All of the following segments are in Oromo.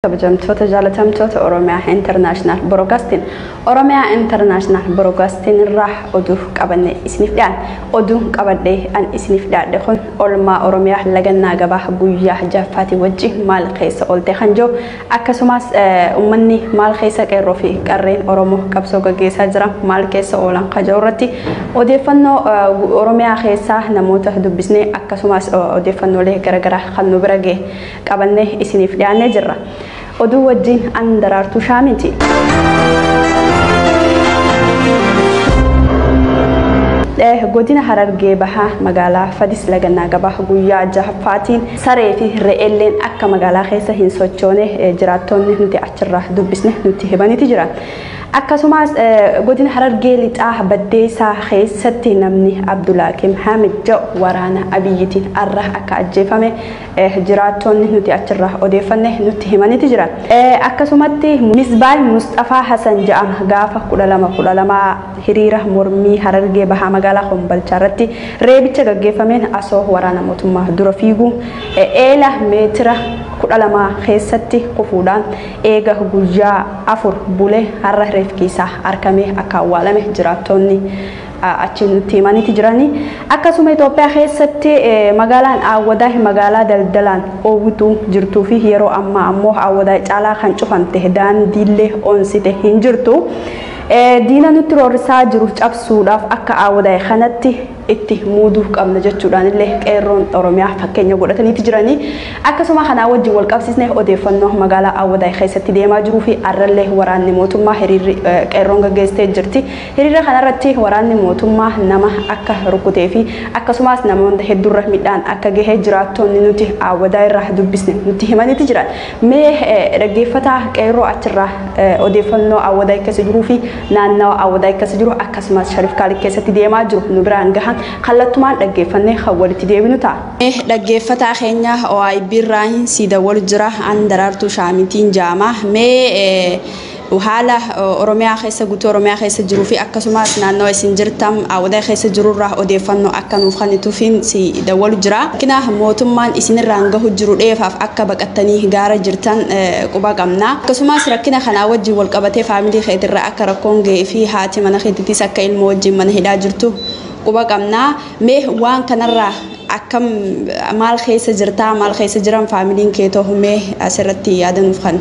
kabajamtoota jaalatamtoota oromiyaa intarnaashinaal borokaastiin oromiyaa intarnaashinaal borokaastiin irraa oduu qabanne isiniif dhiyaan oduun qabadhee an isiniif dhiyaadhe kun olmaa oromiyaa lagannaa gabaa guyyaa jaffaatii wajji maal keessa oolte kan jiru akkasumas ummanni maal keessa qeerroo fi qarreen oromoo qabsoo gaggeessaa jira maal keessa oolan kan jiru irratti odeeffannoo oromiyaa keessaa namoota dubbisne akkasumas odeeffannoolee garaagaraa kan nu bira ga'e qabannee isiniif dhiyaannee jirra. Oduu wajjin an daraartuu shaamiiti. godina harargee bahaa magaalaa fadis lagannaa gabaa guyyaa jahaffaatiin saree fi re'eelleen akka magaalaa keessa hin sochoone jiraattonni nuti achirraa dubbisne nutti himaniiti jira. Akkasumas godina harargee lixaa baddeessaa keessatti namni Abdulaakim Hamid jedhu waraana abiyyitiin arra akka ajjeefame jiraattoonni nuti achirraa odeeffanne nutti himaniti jira. Akkasumatti Misbaay Musxafaa Hasan ja'ama gaafa 12 12 hiriira mormii Harargee Bahaa magaalaa Kombolchaa irratti reebicha gaggeeffameen asoo waraana mootummaa dura fiiguu eela meetira 12 keessatti kufuudhaan eega guyyaa 4 bule har'a reefki isaa arkamee akka awwaalame jiraattoonni achi nutti himaniiti jiranii. Akkasuma Itoophiyaa keessatti magaalaan Awwadaa magaalaa daldalaan oowwitu jirtuu fi yeroo ammaa ammoo Awwadaa caalaa kan cufamte daandiillee onsite hin jirtu. Diina nutti roorrisaa jiru cabsuudhaaf akka Awwadaa kanatti itti muuduu qabna jechuudhaan illee qeerroon Oromiyaa fakkeenya godhataniiti jiranii. Akkasuma kanaa wajjin wal qabsiisne odeeffannoo magaalaa Awwadaa keessatti deemaa jiruu fi arrallee waraanni mootummaa hiriirri qeerroon gaggeessitee jirti. Hiriira kana irratti waraanni mootummaa nama akka rukkutee fi akkasumaas namoonta hedduurra midhaan akka gahe jiraattoonni nuti Aawwadaa irraa dubbisne nutti himaniti jiran. Mee dhaggeeffataa qeerroo achirraa odeeffannoo Aawwadaay keessa jiruu fi naannawa Aawwadaay keessa jiru akkasumaas Sharif Kaalid keessatti deemaa jiru nu biraan gahan kallattumaan dhaggeeffannee kan walitti deebinu ta'a. Dhaggeeffataa keenya OIB irraa hin sii dawwalu jira an Daraartuu Shaamitiin jaama. Mee Haala Oromiyaa keessa guutuu Oromiyaa keessa jiruu fi akkasumas naannawa isin jirtan Awwadaay keessa jiru irraa odeeffannoo akka nuuf kennituufiin si dawwalu jira. Rakkina mootummaan isinirraan gahu jiru dheefaaf akka baqattanii gaara jirtan quba qabna. Akkasumas rakkina kanaa wajjin wal qabatee faamilii keetirra akka rakkoon gahee fi haati mana keetitis akka ilmoo wajjin mana hidhaa jirtu quba qabna. Mee waan kanarraa akkam maal keessa jirtaa? Maal keessa jiran faamiliin keetoo? Mee asirratti yaada nuuf kenni.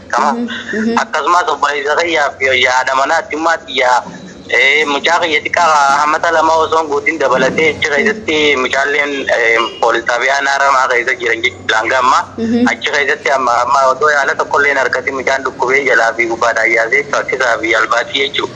akkasumas obboleessa kiyyaaf yoyyaa haadha manaa achumaa tiyyaa mucaa kiyya xiqqaa hamata lama osoon guutiin dabalatee achi keessatti mucaalleen poolis xaabiyaa naaramaa keessa jiran jechuudha hanga amma achi keessatti amma amma otoo yaala tokkollee hin argatin mucaan dhukkubee jalaa fi gubbaadhaan yaasee rakkisaa fi albaasii jechuudha.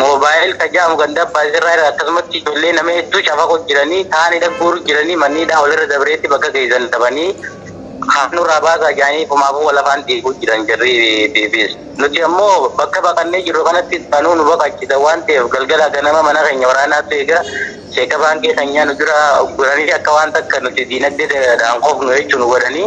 Moobaayil ka jedhamu ganda abbaa sirraa irra akkasumatti ijoollee nama hedduu cafaqu jiranii kaan hidha guuru jiranii manni hidhaa walirra dabreetti bakka geessan dhabanii kaan nurraa baasaa jedhanii fumaafuu walafaan diiguu jiran jarri BBS. Nuti ammoo bakka baqannee jirru kanatti banuu nu baqachiisa waan ta'eef galgala ganama mana keenya waraanaatu eega seeka baankii keenyaa nu dura ugguranii akka waan takka nuti diinagdee dhaan kofnu jechuu nu godhanii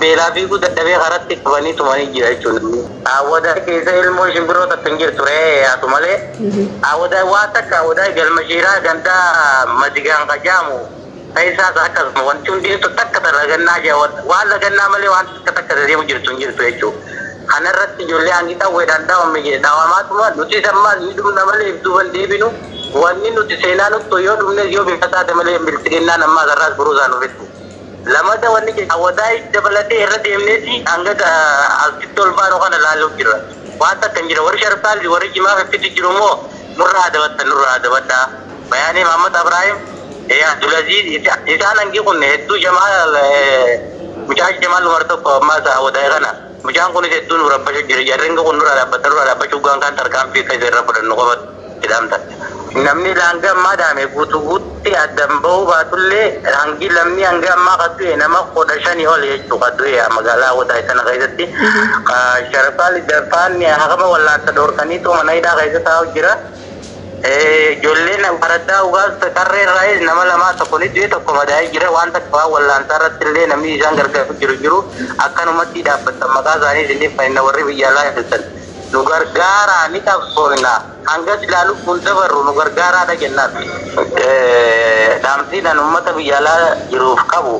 Beelaa fiiguu dadhabee karatti qabanii tumanii jira jechuun namni. Aawwadaay keessa ilmoon shimbiroo takka hin jirtu re'ee yaatu malee. Aawwadaay waa takka aawwadaay galma shiiraa ganda madigaan ka jaamu keessaas akkasuma wanti hundinittu takka ta lagannaa jaa waan lagannaa malee waan takka takka ta deemu jirtu hin jirtu jechuu. Kana irratti ijoollee hangi qawweedhaan dhawame jedhe dhawamaatuma nutis ammaas ni dhumna malee if duuba hin deebinu wanni nuti seenaa nuttu yoo dhumnes yoo bifa taate malee bilxiginnaan ammaas har'aas buruusaa nu fixxi. Lamada wanni jedhe Awadaay dabalatee irra deemneeti hanga asitti ol baanu kana laaluu jirra. Waan takka hin jira. Warri Sharif Kaalid warri Jimaa fiffitu jiru immoo nurra haa dabattan nurra haa dabadhaa. Bayaanee Mahammad Abraahim, Abdulaziiz isaan hangi kun hedduu Jamaal mucaa Jamaal Umar tokko ammaas Awadaay kana mucaan kunis hedduu nu rabbashu jira. Jarri hangi kun nurraa dhaabbadha nurraa dhaabbachuu hoggaan kaan tarkaanfii akka isa irra fudhannu qofatu. hidhamtan. Namni laanga ammaa dhaame guutu guutti addan ba'uu baatullee hangi lammi hanga ammaa ka du'e nama kudha shani oli jechuu ka du'e magaalaa Awwadaay tana keessatti. Ka Sharafaal Iddarfaan hakama wallaansa dhoorkaniitu mana hidhaa keessa taa'u jira. Ijoolleen araddaa Ugaas Tarree irraayis nama lamaa tokko ni du'e tokko madaa'ee jira. Waan takka waan wallaansaa irratti illee namni isaan gargaaru jiru jiru. Akkanumatti dhaabbattan maqaa isaanii isiniif kenna warri biyya alaa jirtan. nu gargaaraa ni qabsoofna hanga silaa lubbuun dabarru nu gargaaraadha jennaan. Dhaamsiin an ummata biyya alaa jiruuf qabu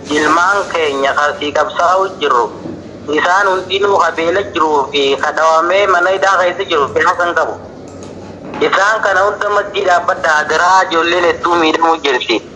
ilmaan keenya ka asii qabsaa'uu jirru isaan hundinuu ka beela jiruu fi ka dhawamee mana hidhaa keessa jiru siyaasa hin qabu. Isaan kana hunda maddii dhaabbadhaa adaraa ijoolleen hedduu miidhamuu jirti.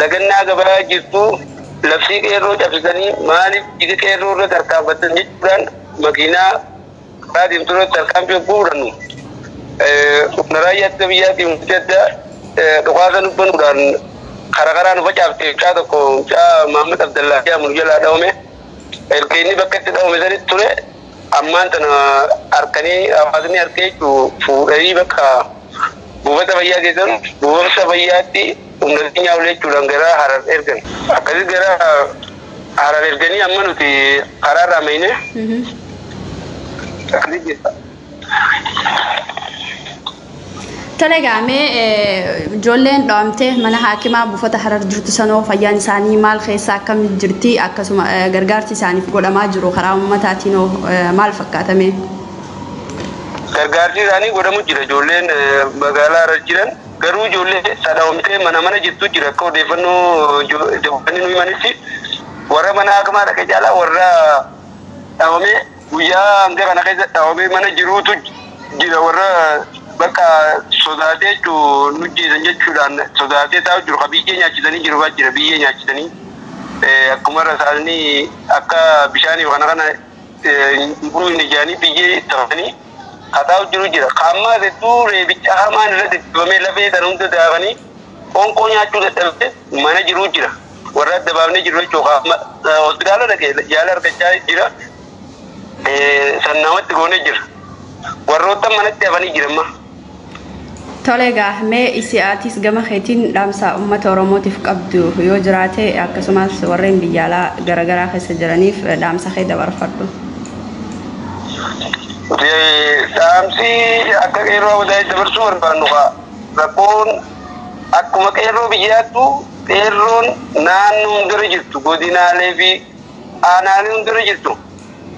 lagannaa gabayaa jirtu labsii qeerroo cabsitanii maaliif dhiiga qeerroo irra tarkaanfattan jechuudhaan makiinaa karaa deemtu irratti tarkaanfii yogguu fudhannu humna raayyaa ittisa biyyaatiin wanti addaa dhukaasa nu banuudhaan karaa karaa nu facaafte mucaa tokko mucaa Mahammad Abdallaa jedhamu nu jalaa dhawame erga inni bakka itti dhawame sanitti ture ammaan tana arkanii hawaasni arkee jechuun fuudhanii bakka buufata fayyaa geessan buufata fayyaatti humna keenyaa ol jechuudhaan gara harar ergan akkasii gara harar erganii amma nuti karaa irraa meeyne akkasii jirra. Tole gaamee ijoolleen dho'amtee mana haakimaa buufata harar jirtu sanoo fayyaan isaanii maal keessa akkam jirti akkasuma gargaarsi isaaniif godhamaa jiru karaa uummataatiin hoo maal fakkaatame? Gargaarsi isaanii godhamu jira ijoolleen magaalaa harar jiran garuu ijoollee sadhaawamtee mana mana jirtu jira akka odeeffannoo dabalanii nu himanitti warra mana haakimaa dhaqe caalaa warra dhaawamee Guyyaa hanga kana keessa dhawamee mana jiruutu jira warra bakka sodaatee jechuun nu jeesan jechuudhaan sodaatee taa'u jiru ka biyyee nyaachisanii jiru fa'aa jira biyyee nyaachisanii akkuma rasaasni akka bishaanii kana kana guruu hin ijaanii biyyee tafanii ka taa'u jiru jira ka ammaa hedduu reebicha hamaan irra deddeebamee lafee sana hunda daakanii qoonqoo nyaachuu dadhabee mana jiruu jira. Warra adda baafnee jirru jechuun qaama hospitaala dhaqee yaala argachaa jira. San namatti goonee jira. Warroottan manatti hafanii jira amma. Tole egaa mee isi atis gama keetiin dhaamsa uummata Oromootiif qabdu yoo jiraate akkasumas warreen biyya alaa garagaraa keessa jiraniif dhaamsa kee dabarfadhu. Dhaamsi akka qeerroo Awadaay dabarsuu barbaannu kaa rakkoon Akkuma qeerroo biyyaattuu qeerroon naannoo hundarra jirtu godinaalee fi aanaalee hundarra jirtu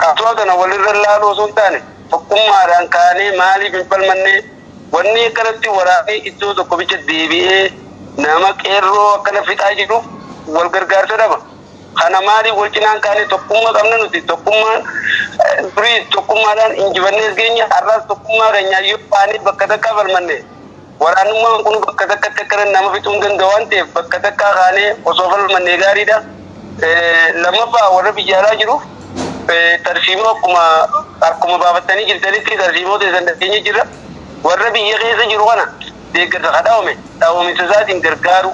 qabsoo tana walirra laaluu osoo hin taane tokkummaadhaan kaanee maaliif hin falmannee wanni akkanatti waraanee iddoo tokko bicha deebi'ee nama qeerroo akkana fixaa jiruuf wal gargaarsa dhaba. Kana maaliif wal cinaan kaanee tokkummaa qabna nuti tokkummaan durii tokkummaadhaan injifannees keenya har'aas tokkummaa keenyaa yoo baanee bakka takkaa falmanne Waraanummaan kun bakka takkatti akka nama fixuu hin danda'u waan ta'eef bakka takkaa kaanee osoo falmannee gaariidha. Lammaffaa warra biyya alaa jiruuf tarsiimoo akkuma akkuma baafattanii jirtanitti tarsiimoo teessan dhageenya jirra. Warra biyya keessa jiru kana deeggarsa ka dhawame dhawamiinsa isaatiin gargaaru.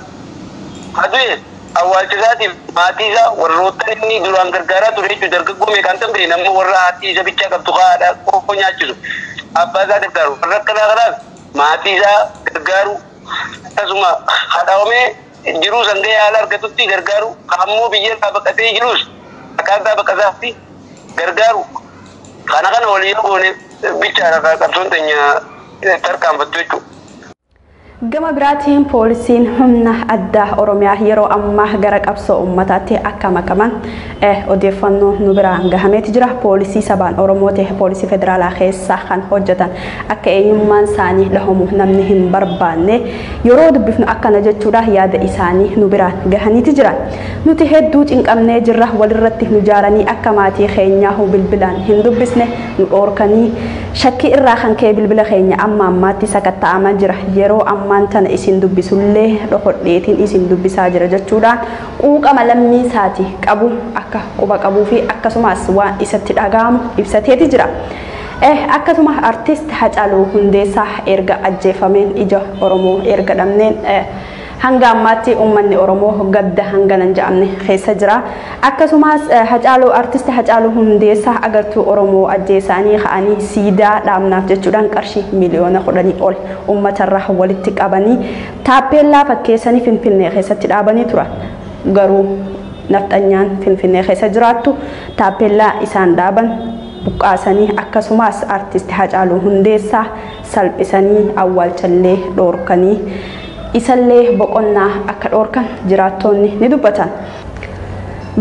Ka du'e awwaalcha isaatiif maatii isaa warroottan inni duraan gargaaraa ture jechuun dargaggoo meeqaan tan beekna amma warra haati isa bichaa qabdu ka haadha qofa nyaachisu abbaa isaa gargaaru warra akkanaa kanaaf maatii isaa gargaaruu, akkasuma ka dhawamee jiruu san gahee haala argatutti gargaaruu, ka ammoo biyya irraa baqatee jiruus akkaataa baqa isaatti gargaaruu, kana kana waliin yoo goone bichaadha ka qabsoon teenya tarkaanfattu jechuudha. Gama biraatiin poolisiin humna addaa Oromiyaa yeroo ammaa gara qabsoo uummataatti akka makaman odeeffannoo nu biraan gahameeti jira. Poolisii sabaan Oromoo ta'e poolisii federaalaa keessa kan hojjetan akka eenyummaan isaanii dhahamu namni hin barbaanne yeroo dubbifnu akkana jechuudha yaada isaanii nu biraan gahaniiti jiran. Nuti hedduu cinqamnee jirra walirratti nu jaaranii akka maatii keenyaahu bilbilaan hin dubbisne nu dhoorkanii shakkii irraa kan ka'e bilbila keenya amma ammaatti sakatta'amaa jira. Yeroo ammaan tana isin dubbisullee dhokodheetiin isin dubbisaa jira jechuudhaan quuqama lammii isaati qabu akka quba qabuu fi akkasumas waan isatti dhaga'amu ibsateeti jira. E. Akkasuma artist Hacaaluu Hundeessaa erga ajjeefameen ija Oromoo erga dhabneen E. Hanga ammaatti ummanni Oromoo gadda hangana hin ja'amne keessa jira. Akkasumas E. Hacaaluu artist Hacaaluu Hundeessaa agartuu Oromoo ajjeesaanii ka'anii siidaa dhaabnaaf jechuudhaan qarshii miliyoona kudhanii ol ummatarraa walitti qabanii Taappeellaa fakkeessanii Finfinnee keessatti dhaabanii turan. Garuu nafxanyaan Finfinnee keessa jiraattu taappeellaa isaan dhaaban buqqaasanii akkasumaas Artisti Hacaaluu Hundeessaa salphisanii awwaalchallee dhoorkanii isallee boqonnaa akka dhoorkan jiraattoonni ni dubbatan.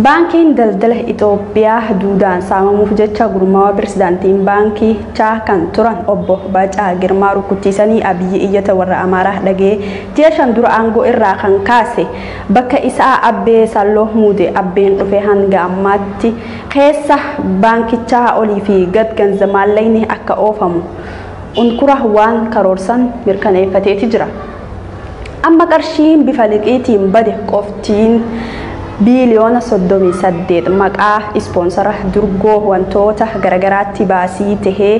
Baankiin daldala Itoophiyaa duudaan saamamuuf jecha gurmaawaa pirezidaantiin baankiichaa kan turan obbo Baacaa Girmaa rukkuchiisanii Abiyyi iyyata warra Amaaraa dhaga'ee ji'a shan dura aangoo irraa kan kaase bakka isaa Abbee Salloo muude. Abbeen dhufee hanga ammaatti keessa baankichaa olii fi gad ganza maallaqni akka oofamu unkura waan karoorsan mirkaneeffateeti jira. Amma qarshiin bifa liqiitiin bade qoftiin biiliyoona 38 maqaa ispoonsara durgoo wantoota garagaraatti baasii tahee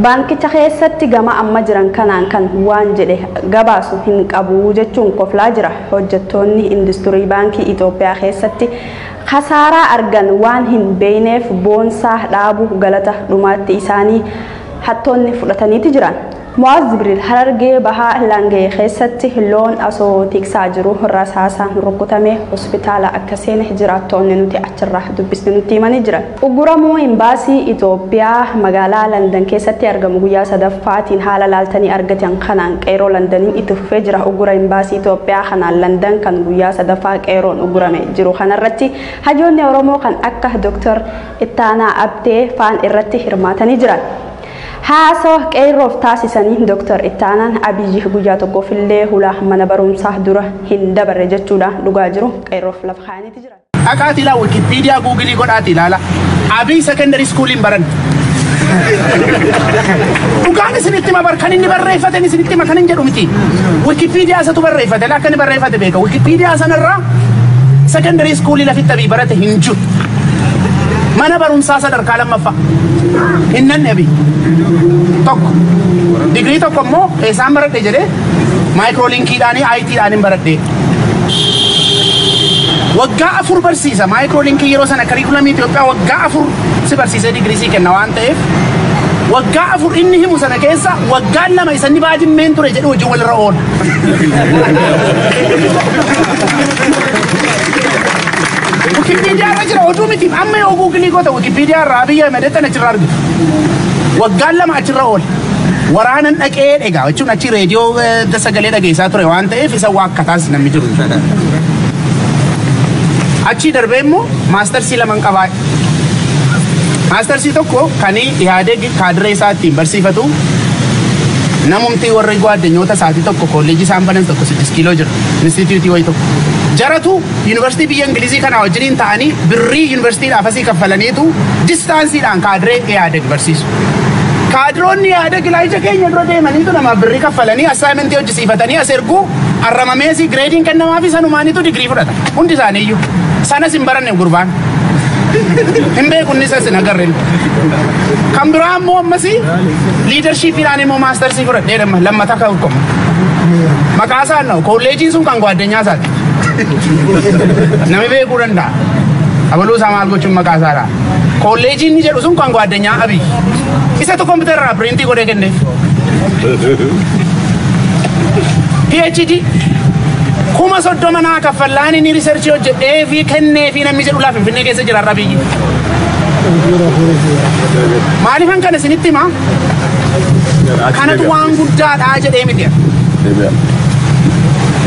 baankicha keessatti gama amma jiran kanaan kan waan jedhe gabaasu hin qabu jechuun koflaa jira. Hojjettoonni industirii baankii Itoophiyaa keessatti kasaaraa argan waan hin beeyneef boonsaa dhaabu galata dhumaatti isaanii hattoonni fudhataniiti jiran. Mu'aaz Jibriil Harargee Bahaa Laangee keessatti loon asoo tiksaa jiru rasaasaan rukkutamee hospitaala akka seene jiraattoonni nuti achirraa dubbisne nutti himanii jiran. Ugguramuu Imbaasii Itoophiyaa magaalaa Landan keessatti argamu guyyaa sadaffaatiin haala laaltanii argatan kanaan Qeerroo Landaniin itti fufee jira. Uggura Imbaasii Itoophiyaa kanaan Landan kan guyyaa sadaffaa Qeerroon uggurame jiru kanarratti hayyoonni Oromoo kan akka Dr. Ittaanaa Abtee faan irratti hirmaatanii jiran. Haasawa Qeerroof taasisaniin Dr. Ittaanaan, Abiyyi guyyaa tokkoof illee hula mana barumsaa dura hin dabarre jechuudhaan dhugaa jiru Qeerroof lafa kaayaniiti jiran. Dhaqaatii ilaa Wikipedia Google godhaatii ilaala. Abiy secondary school hin baran. Dhugaan isinitti hima bar kan inni barreeffate isinitti hima kan hin jedhu miti. Wikipedia isatu barreeffate akka inni barreeffate beeka. Wikipedia sanarraa secondary school lafitti abii barate hin jiru. Mana barumsaa sadarkaa lammaffaa hin nannabi tokko digirii tokko immoo eessaan baradhe jedhee maayikiroolinkiidhaan ITdhaan hin baradhe. Waggaa afur barsiisa maayikiroolinkiin yeroo sana kariikulamii Itoophiyaa waggaa afur si barsiisee digirii sii kenna waan ta'eef waggaa afur inni himu sana keessa waggaan lama isa inni baajimmeen ture jedhu hojii walirra oola. Wikipedia irra jira oduu miti amma yoo guugilii goota Wikipedia irraa Abiy Ahmed tan achirraa argitu. Waggaan lama achirra oole. Waraanan dhaqee egaa jechuun achi reediyoo eh, sagalee dhageessaa ture waan ta'eef isa waakkataas namni jiru. Achii darbee immoo maastarsii laman qabaa. Maastarsii tokko kan Ihaadeeg kaadiree isaa ittiin barsiifatu namumti warri gwaaddanyoota isaatii tokko kolleejii isaan banan tokko siddis kiiloo jira. Institute wayi tokko. Jaratu University biyya Ingilizii kanaa wajjiniin ta'anii birrii University dhaaf asii kaffalaniitu distance dhaan kaadiree Ihaadeg barsiisu. Kaadiroonni Ihaadeg ilaa ija keenya dura deemaniitu namaaf birrii kaffalanii assignment hojjisiifatanii as ergu arramameesii gireediin kennamaafii sanumaaniitu digirii fudhata. Hundi isaaniiyyuu. Sanas hin baranne gurbaan. hin beeku inni isas hin agarre kan biraa ammoo ammas liidarshiipiidhaan immoo maastarsii fudhadhee damma lammata akka hukkamu maqaa isaa na'u koolleejiin sun kan gwaaddenyaa isaati nami beekuu danda'a abaluu isaa maal gochuun maqaa isaa dha koolleejiin ni jedhu sun kan gwaaddenyaa abiy isatu kompiitara irraa piriintii godhee kenneef PhD kuma soddoma naa kaffallaan inni riisarchii hojjedhee fi kenneefii namni jedhu laa Finfinnee keessa jira har'a biyyi. Maaliifan kana isinitti himaa? Kanatu waan guddaadha jedhee miti.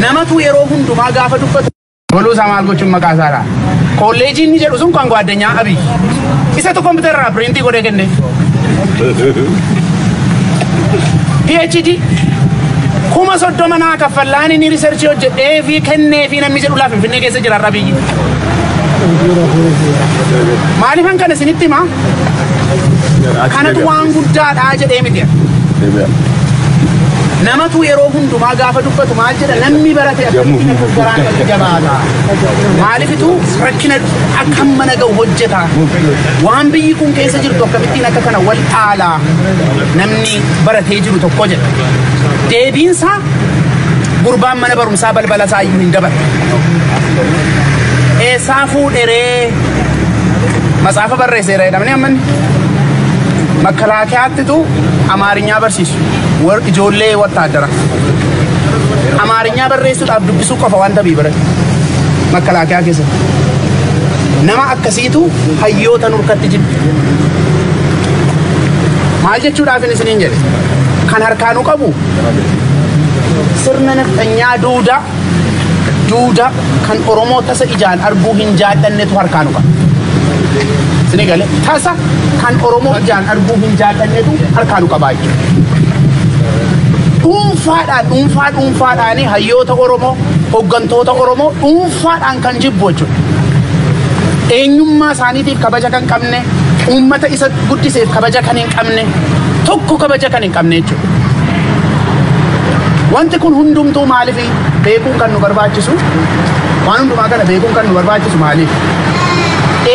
Namatu yeroo hundumaa gaafa dubbatu. Waluu isaa maal gochuun maqaa isaadha. Kolleejii inni jedhu sun kan gwaaddanyaa Abiy. Isatu kompiitara irraa piriintii godhee kenne. PhD kuma soddoma naa kaffallaan inni riisarchii hojjedhee fi kennee fi namni jedhu laa Finfinnee keessa jira har'a biyyi. Maaliifan kana isinitti hima? Kanatu waan guddaadha jedhee miti. Namatu yeroo hundumaa gaafa dubbatu maal jedha namni barate akkamitti akka garaan gadi jabaata. Maaliifitu rakkina akka mana ga'u hojjeta. Waan biyyi kun keessa jirtu akkamittiin akka kana wal dhaala namni baratee jiru tokko jedha. Deebiinsaa gurbaan mana barumsaa. isaa balbala isaa iyyuu hin dabarre. Eessaa fuudheree matsaafa barreesseera jedhamanii ammanni makalaakiyaattitu amaarinyaa barsiisu war- ijoollee wattaaddara. Amaarinyaa barreessuudhaaf dubbisuu qofa waan tabii barate makalaakiyaa keessatti. Nama akkasiitu hayyoota nurkatti jibbi. Maal jechuudhaaf isiniin jedhe kan harkaanuu qabu sirna nafxanyaa duuda duuda kan oromoo tasa ijaan arguu hin jaadhannetu harkaa nu qaba. Sini gale tasa kan oromoo ijaan arguu hin jaadhannetu harkaa nu qabaa jechuudha. Dhuunfaadhaan dhuunfaa dhuunfaadhaan hayyoota oromoo hooggantoota oromoo dhuunfaadhaan kan jibbu jechuudha. Eenyummaa isaaniitiif kabaja kan qabne uummata isa guddiseef kabaja kan hin qabne tokko kabaja kan hin qabne jechuudha. Wanti kun hundumtuu maaliif beekuun kan nu barbaachisu waan hundumaa kana beekuun kan nu barbaachisu maaliif?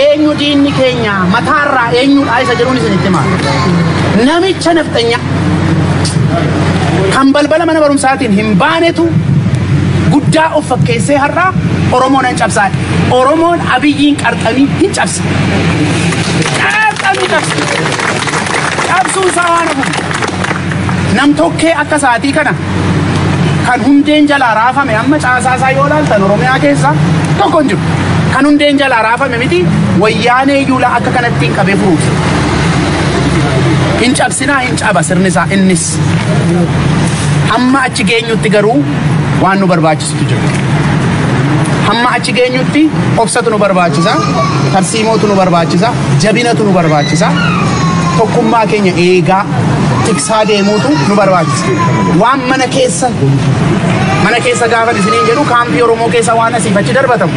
Eenyu diinni keenya mataarraa eenyudha isa jedhuun isinitti himaa. Namicha nafxanya kan balbala mana barumsaatiin hin baanetu guddaa of fakkeessee har'aa Oromoon hin cabsaa. Oromoon abiyyiin qarxamii hin cabsa. Qarxamii cabsa. Cabsuun isaa waan hafuuf namtokkee akka isaatii kana kan hundeen jalaa raafame amma caasaa isaa yoo ilaaltan Oromiyaa keessa tokko hin jiru. Kan hundeen jalaa raafame miti wayyaanee yuulaa akka kanatti hin qabee furuuf. Hin cabsinaa hin caba sirni isaa innis. Hamma achi geenyutti garuu waan nu barbaachisutu jiru. Hamma achi geenyutti obsatu nu barbaachisa, tarsiimootu nu barbaachisa, jabinatu nu barbaachisa, tokkummaa keenya eegaa tiksaa deemuutu nu barbaachisa. Waan mana keessa mana keessa gaafa isiniin jedhu kaampii Oromoo keessa waan asiif achi darbatamu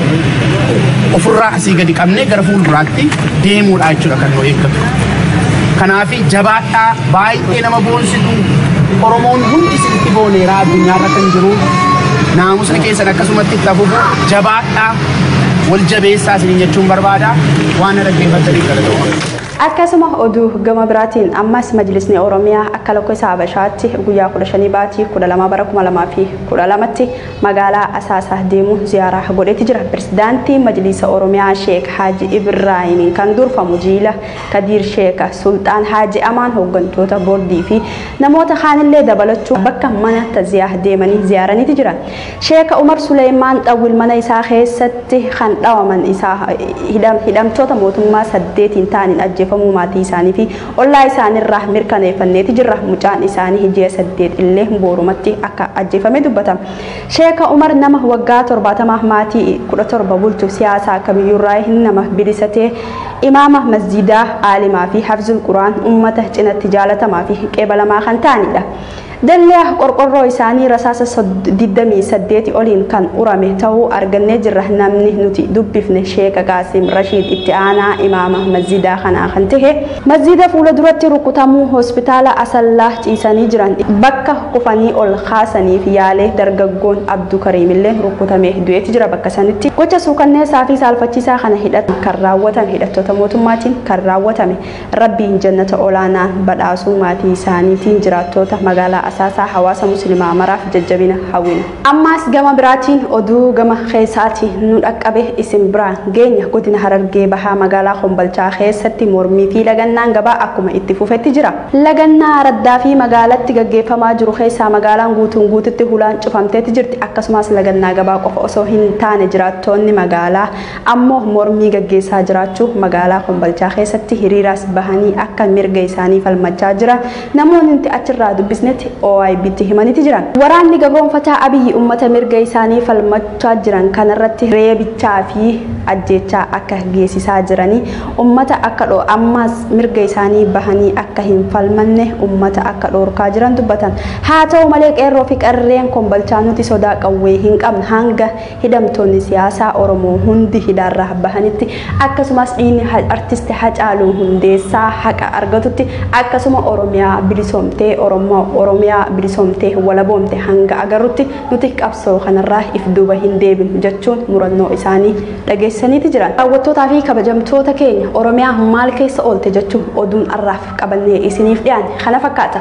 ofirraa asii gadi qabnee gara fuulduraatti deemuudha jechuudha kan nu eeggatu. Kanaafi jabaadhaa baay'ee Baay'ee nama boonsitu Oromoon hundi isinitti booneera addunyaarra kan jiru naamusni keessan akkasumatti itti hafufu jabaadha wal jabeessaa isinin jechuun barbaada waan na dhaggeeffattaniif galatoomaa. Akkasuma oduu gama biraatiin ammas majlisni Oromiyaa akka lakkoofsa Habashaatti guyyaa 15 baatii 12 bara 2012tti magaalaa Asaasaa deemuun ziyaaraa godheeti jira. Pirezidaantii Majlisa Oromiyaa Sheek Haaji Ibraahiimiin kan durfamu jiila Kadiir Sheeka, Sulxaan Haaji Amaan hooggantoota boordii fi namoota kaanillee dabalachuun bakka mana taziyaah deemanii ziyaaraniiti jiran. Sheeka Umar Suleeymaan Xawwil mana isaa keessatti kan dhawaman isaa hidhamtoota mootummaa saddeetiin ta'aniin ajjeefamuu maatii isaanii fi ollaa isaaniirraa mirkaneeffanneeti jirra. Mucaan isaanii ji'a saddeet illee boorumatti akka ajjeefame dubbatama. Sheeka Umar nama waggaa torbaatama maatii kudha torba bulchu siyaasa kamiyyuurraa nama bilisa ta'e Imaama masjiidaa, aalimaa fi hafzul quraan ummata cinatti jaalatamaa fi qeebalamaa kan ta'aniidha. Dallya qorqorroo isaanii rasaasa 28 oliin kan urame ta'uu argannee jirra. Namni nuti dubbifne Sheeka Qaasim Rashiid itti aanaa imaama masjiidaa kanaa kan ta'e masjiida fuula duratti rukutamuu hospitaala Asallaa ciisanii jiran bakka kufanii ol kaasaniif yaale dargaggoon Abdu Kariimillee rukkutamee du'eeti jira bakka sanitti. Gocha suukanneessaa fi saalfachiisaa kana hidhatan kan raawwatan hidhattoota mootummaatiin kan raawwatame. Rabbiin jannata olaanaan badhaasuu maatii isaaniitiin jiraattoota magaalaa Asaasaa hawaasa muslimaa maraaf jajjabina hawwina. Ammaas gama biraatiin oduu gama keessaati nu dhaqqabe isin biraan geenya godina harargee bahaa magaalaa kombalchaa keessatti mormii fi lagannaan gabaa akkuma itti fufetti jira. Lagannaa araddaa fi magaalatti gaggeeffamaa jiru keessaa magaalaan guutuun guututti hulaan cufamteeti jirti akkasumaas lagannaa gabaa qofa osoo hin taane jiraattoonni magaalaa ammoo mormii gaggeessaa jiraachuu magaalaa kombalchaa keessatti hiriiraas bahanii akka mirga isaanii falmachaa jira Namoonni nuti achirraa dubbisnetti OIBtti himaniti jiran. Waraanni gabroomfataa Abiyyi ummata mirga isaanii falmachaa jiran kanarratti reebichaa fi ajjeechaa akka geessisaa jiranii, ummata akka dho ammaas mirga isaanii bahanii akka hin falmanne ummata akka dhoorkaa jiran dubbatan. Haa ta'u malee qeerroo fi qarreen kombalchaa nuti sodaa qawwee hin qabnu hanga Hidhamtoonni siyaasaa Oromoo hundi hidhaarra bahanitti akkasumas dhiigni artisti Hacaaluu Hundeessaa haqa argatutti akkasuma Oromiyaa bilisoomtee Oromiyaa bilisoomtee walaboomte hanga agarrutti nuti qabsoo kanarraa if duuba hin deebinu jechuun murannoo isaanii dhageessaniiti jiran. Daawwattoota fi kabajamtoota keenya Oromiyaa maal keessa oolte jechuun oduun arraaf qabannee isiniif dhiyaanne kana fakkaata.